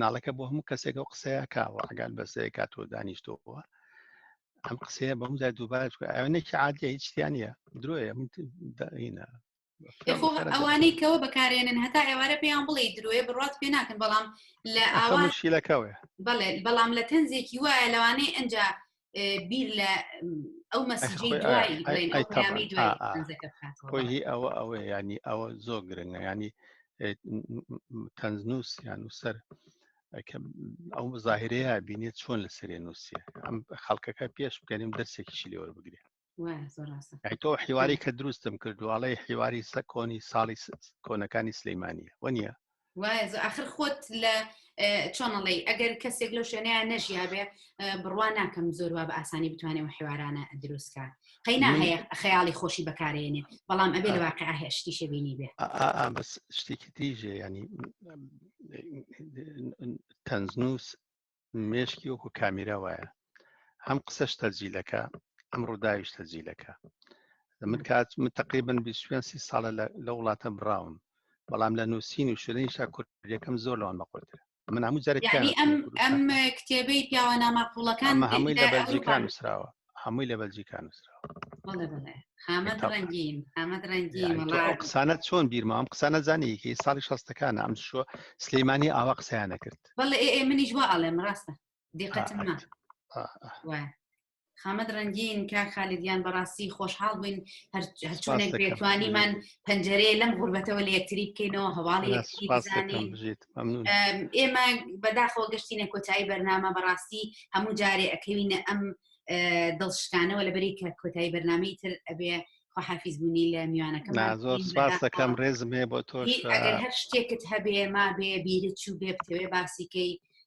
ناڵەکە بۆ هەموو کەسێک ئەو قسەیە کاوە ئەگات بەسەیە کات و دانیشتەوە ئەم قسەیە بە هەمودا دووبارە ئەوەنێکی عادە هیچیانە درۆیە من داینە ئەوانەی کەەوە بەکارێنن هەتا ئێوارە پێیان بڵێ درۆیە بڕات پێ ناکەن بەڵام لە ئاواشیلەکەوێ بەڵێ بەڵام لە تەنزێکی وایە لەوانەیە ئەجا بیر لە ئەو مەسیجی دوایی بڵێن ئەو پەیامی دوای تەنزەکە بکاتەوە خۆی هی ئەوە ئەوە ینی ئەوە زۆر گرنگە ینی تەنزنووس یان و سەر ئەو مزاهرەیە بینێت چۆن لە سەرێ نووسە ئەم خەڵکەکە پێش بکەنیم دەرسێکیشی لێوەربگرێت تۆ حیواری کە دروستم کردوواڵی حیواری سە کۆنی ساڵی کۆنەکانی سلەیمانە وە نییە آخر خۆت لە چۆنەڵی ئەگەر کەسێک لەو شوێنەیە نەژیابێ بڕوا ناکەم زۆر وا بە ئاسانی بتوانێت و حیوارانە دروستکە قەینا هەیە خەیاڵی خۆشی بەکارێنێ بەڵام ئەبێ لە واقع هێشتی شبینی بێ بەس شتێکی تریژێ ینی تەنزنووس مێشکی وەکو کامیرا وایە هەم قسەش تەجیلەکە ئەم ڕووداویش تەجیلەکە من کات من تقریبن بیسوێن سی ساڵە لە وڵاتە براون بەڵام لە نووسین و شوێنیشا کوردەکەم زۆر لەوان بەقۆتر من هەموو جارێک ئەم کتێبەی پیاوە ناماقولەکان هەمووی لە بەلجیکان نووسراوە هەمووی لە بەلجیکا نووسراوە بەڵێ بەڵێ حامد تەق. ڕەنگین حامد ڕەنگین یعنی تۆ وڵا ئەو قسانە چۆن بیرمە ئەم قسانە زانیکی ساڵی شەستەکانە ئەم شووە سلەیمانی ئاوا قسەیانە کرد بەڵێ ئێ ئێ منیش وا ئەڵێم ڕاستە دیقەتم نا ئا، ئا. وایە خامەت ڕەنگین کا خالیدیان بەڕاستی خۆشحاڵ بووین هەر- هەرچۆنێک سپاس دەکەم. بێتوانیمان پەنجەرەیە لەم غوربەتەوە لە یەکتری بکەینەوە هەواڵی لا، یەکتری سپاس دەکەم بزانین بژیت ئێمە بەداخۆ گەشتینە کۆتایی بەرنامە بەڕاستی هەموو جارێ ئەکەوینە ئەم دڵشکانەوە لەبەری کە کۆتایی بەرنمەی تر ئەبێ خۆحافیز بوونی لە میوانەکەم زۆر سپاس دەکەم ڕێزمێ بۆ تۆش هەر شتێکت هەبێ ما بێ بیرت چوو بێ بتەوێ باسیکەی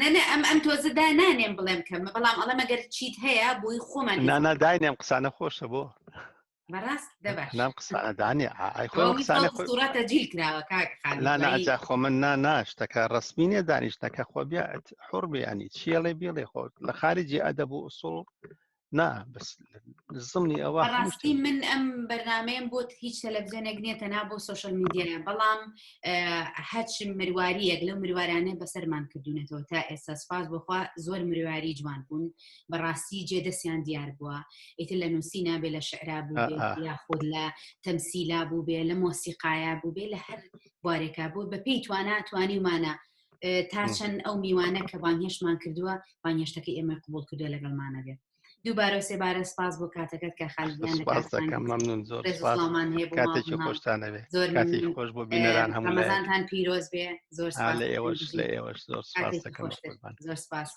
نەنە ئەم ئەم تۆزە دا نانێم بڵێم کە بەڵام ئەڵە مەگەر چیت هەیە بۆی خۆمان نانا داینێم قسانە خۆشە بۆ بەڕاست دەباش نام قسانەدانێ ئای خۆ قسانە خۆڕاتە جیل کراوە کاک ناجا خۆ من نا ناشتەکە ڕسمینێ دانیشتەکە خۆ بیات حڕ بیانی چیڵێ بیڵێ خۆ لە خارجی ئەدەب و ئوسڵ نا بەس زمنی ئەوە ڕاستی من ئەم بەرنمەیەم بۆت هیچ تەلەڤزیۆنێک نییە تەنا بۆ سوۆشل میدیایە بەڵام هەچ مرواریەک لەو مروارانە بەسەرمان کردوونەتەوە تا ئێستا سپاس بخوا زۆر مرواری جوان بوون بەڕاستی جێ دەستیان دیار بووە ئیتر لە نووسی نابێ لە شعرا بوو یا خود لە تەمسیلا بوو بێ لە مۆسیقایا بوو بێ لە هەر بارێکا بوو بە پێی توانە توانیمانە تا چەند ئەو میوانە کە بانهێشمان کردووە بانهێشتەکە ئێمە قوبول کردووە لەگەڵمانە بێت دووبارە سێبارە سپاس بۆ کاتەکەت کە خالیانمان هەیە خۆش بۆ بینەران هەمووتان پیرۆز بێ زۆر لە ئێوەش لە ئێوەش زۆر سپاس زۆر سپاس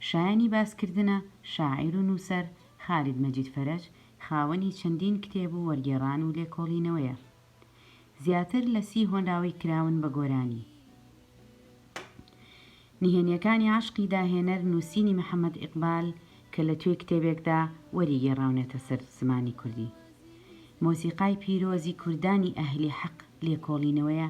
شایانی باسکردنە شاعیر و نووسەر خالید مەجید فەرەج خاوەنی چەندین کتێب و وەرگێڕان و لێکۆڵینەوەیە زیاتر لە سی هۆنراوەی کراون بە گۆرانی نهێنیەکانی عەشقی داهێنەر نووسینی محەمەد ئیقبال کە لە توێی کتێبێکدا وەری گێڕاونەتە سەر زمانی کوردی مۆسیقای پیرۆزی کوردانی ئەهلی حەق لێکۆڵینەوەیە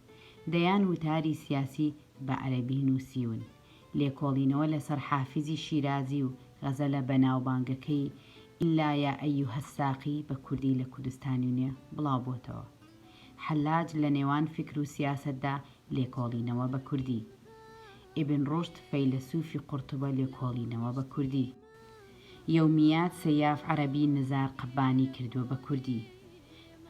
دەیان وتاری سیاسی بە عەرەبی نووسیون. لێکۆڵینەوە لەسەر حافیزی شیرازی و غەزەلە بەناوبانگەکەی الا یا ایها الساقی بە کوردی لە کوردستانی نوێ بڵاو بۆتەوە. حەلاج لە نێوان فیکر و سیاسەتدا لێکۆڵینەوە بە کوردی. ئیبن ڕوشد فەیلەسووفی قورتوبە لێکۆڵینەوە بە کوردی. یەومیات سەیاف عەرەبی نزار قەبانی کردووە بە کوردی.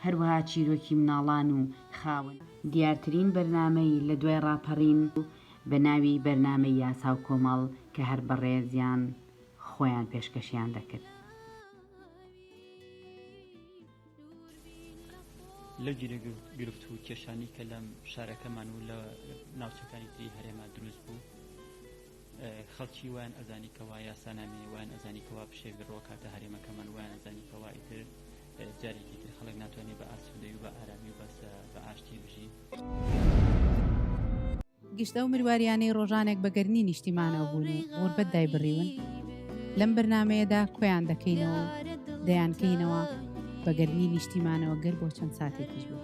هەروەها چیرۆکی مناڵان و خاوەن دیارترین بەرنامەی لە دوای ڕاپەڕین بوو بە ناوی بەرنامەی یاسا و کۆمەڵ کە هەر بەڕێزیان خۆیان پێشکەشیان دەکرد. لەو گیروگرفت و کێشانەی کە لە شارەکەمان و لە ناوچەکانی تری هەرێما دروست بوو، خەڵکی وایان ئەزانی کەوا یاسا نامێنێ وایان ئەزانی کەوا پشێک دڕۆ کاتە هەرێمەکەمان وایان ئەزانی کەوا ئیتر جارێکی تر خەڵک ناتوانێت بە ئاسوودەی و بە ئارامی و بەس بە ئاشتی بژی. گشت ئەو مرواریانەی ڕۆژانێک بە گەرمی نیشتیمانەوە بوون و غوربەت دایبڕیون لەم بەرنامەیەدا کۆیان دەکەینەوە و دەیانکەینەوە بە گەرمی نیشتیمانەوە گەر بۆ چەند ساتێکیش بێت.